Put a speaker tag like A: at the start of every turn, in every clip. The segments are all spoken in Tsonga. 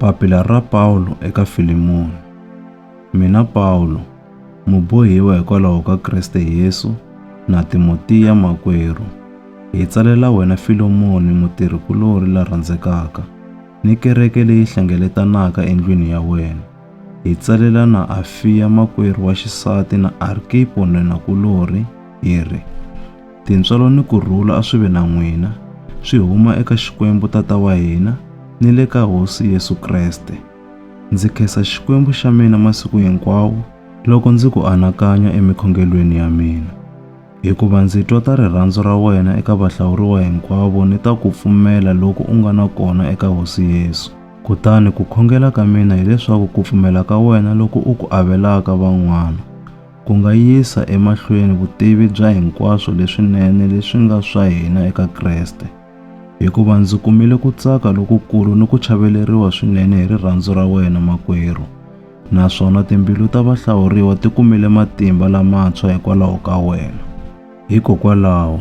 A: Papila ra Pawulo eka Filimoni. Mina Pawulo, mubohiwa hikwalaho ka Kriste Yesu, na Timotiya makwerhu, hi tsalela wena Filomoni mutirhi-kulorhi la rhandzekaka, ni kereke leyi hlengeletanaka endlwini ya wena. Hi tsalela na Afiya makwerhu wa xisati na Arkipo nwenakulorhi, hi ri, Tintswalo ni ku rhula a swi ve na n'wina, swi huma eka Xikwembu Tata wa hina ni le ka Hosi Yesu Kreste. Ndzi khensa Xikwembu xa mina masiku hinkwawo loko ndzi ku anakanya emikhongelweni ya mina, hikuva ndzi twa ta rirhandzu ra wena eka vahlawuriwa hinkwavo ni ta ku pfumela loku u nga na kona eka Hosi Yesu. Kutani ku khongela ka mina hileswaku ku pfumela ka wena loku u ku avelaka van'wana, Ku nga yisa emahlweni vutivi bya hinkwaswo leswinene leswi nga swa hina eka Kreste, hikuva ndzi kumile ku tsaka lokukulu ni ku chaveleriwa swinene hi rirhandzu ra wena, makwerhu, naswona timbilu ta vahlawuriwa ti kumile matimba lamantshwa hikwalaho ka wena. Hikokwalaho,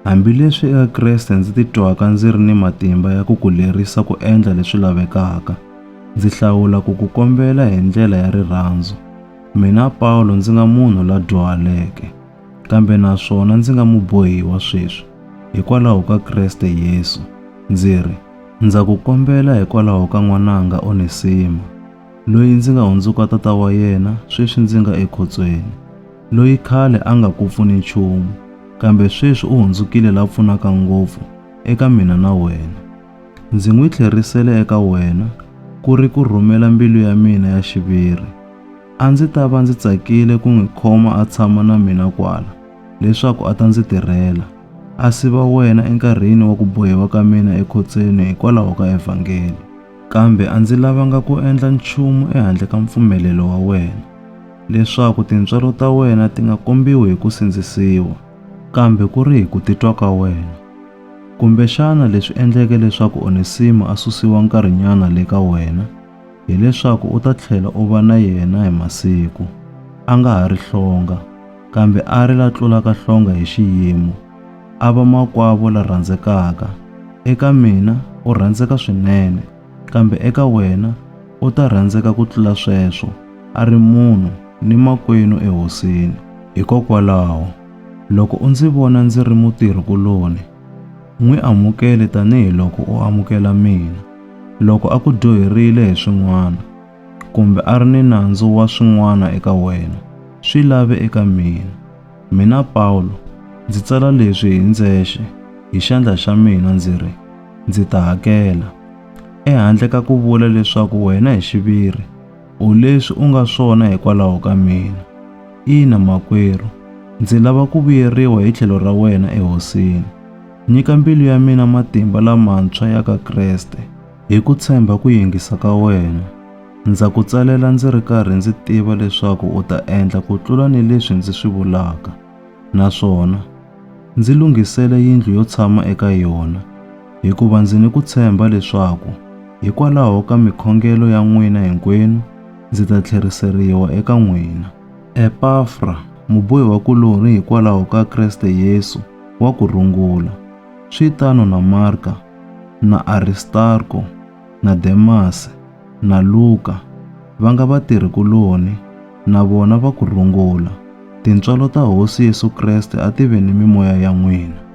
A: hambileswi eka Kreste ndzi titwaka ndzi ri ni matimba ya ku ku lerisa ku endla leswi lavekaka, ndzi hlawula ku ku kombela hi ndlela ya rirhandzu, Mina Pawulo ndzi nga munhu la dyuhaleke, kambe naswona ndzi nga mubohiwa sweswi, hikwalaho ka Kreste Yesu, ndzi ri, Ndza ku kombela hikwalaho ka n'wananga Onesimo, loyi ndzi nga hundzuka tata wa yena sweswi ndzi nga ekhotsweni, loyi khale a nga ku pfuni nchumu, kambe sweswi u hundzukile la pfunaka ngopfu eka mina na wena. Ndzi n'wi tlherisele eka wena ku ri ku rhumela mbilu ya mina ya xiviri. A ndzi ta va ndzi tsakile ku n'wi khoma a tshama na mina kwala, leswaku a ta ndzi tirhela, a siva wena enkarhini wa ku bohiwa ka mina ekhotsweni hikwalaho ka evhangeli. Kambe a ndzi lavanga ku endla nchumu ehandle ka mpfumelelo wa wena, leswaku tintswalo ta wena ti nga kombiwi hi ku sindzisiwa, kambe ku ri hi ku titwa ka wena. Kumbexana leswi endleke leswaku Onesimo a susiwa nkarhinyana le ka wena hi leswaku u ta tlhela u va na yena hi masiku. A nga ha ri hlonga, kambe a ri la tlulaka hlonga hi xiyimo. A va makwavo la rhandzekaka. Eka mina u rhandzeka swinene, kambe eka wena u ta rhandzeka ku tlula sweswo, a ri munhu ni makwenu eHosini. Hikokwalaho, Loko u ndzi vona ndzi ri mutirhi-kuloni, n'wi amukele tanihi loko u amukela mina. Loko a ku dyoherile hi swin'wana, kumbe a ri ni nandzu wa swin'wana eka wena, swi lave eka mina. Mina Pawulo, ndzi tsala leswi hi ndzexe hi xandla xa mina ndzi ri, Ndzi ta hakela, ehandle ka ku vula leswaku wena hi xiviri, U leswi u nga swona hikwalaho ka mina. Ina, makwerhu, ndzi lava ku vuyeriwa hi tlhelo ra wena eHosini. Nyika mbilu ya mina matimba lamantshwa ya ka Kreste hi ku tshemba ku yingisa ka wena. Ndza ku tsalela ndzi ri karhi ndzi tiva leswaku u ta endla ku tlula ni leswi ndzi swi vulaka. naswona ndzi lunghisele yindlu yo tshama eka yona, hikuva ndzi ni ku tshemba leswaku hikwalaho ka mikhongelo ya n'wina hinkwenu ndzi ta tlheriseriwa eka n'wina. Epafra, mubohiwakulorhi hikwalaho ka Kreste Yesu, wa ku rungula. Swi tano na Marka na Aristarko. na Demasi, na Luka, va nga vatirhi-kuloni, na vona va ku rungula. Tintswalo ta Hosi Yesu Kreste a ti ve ni mimoya ya n'wina.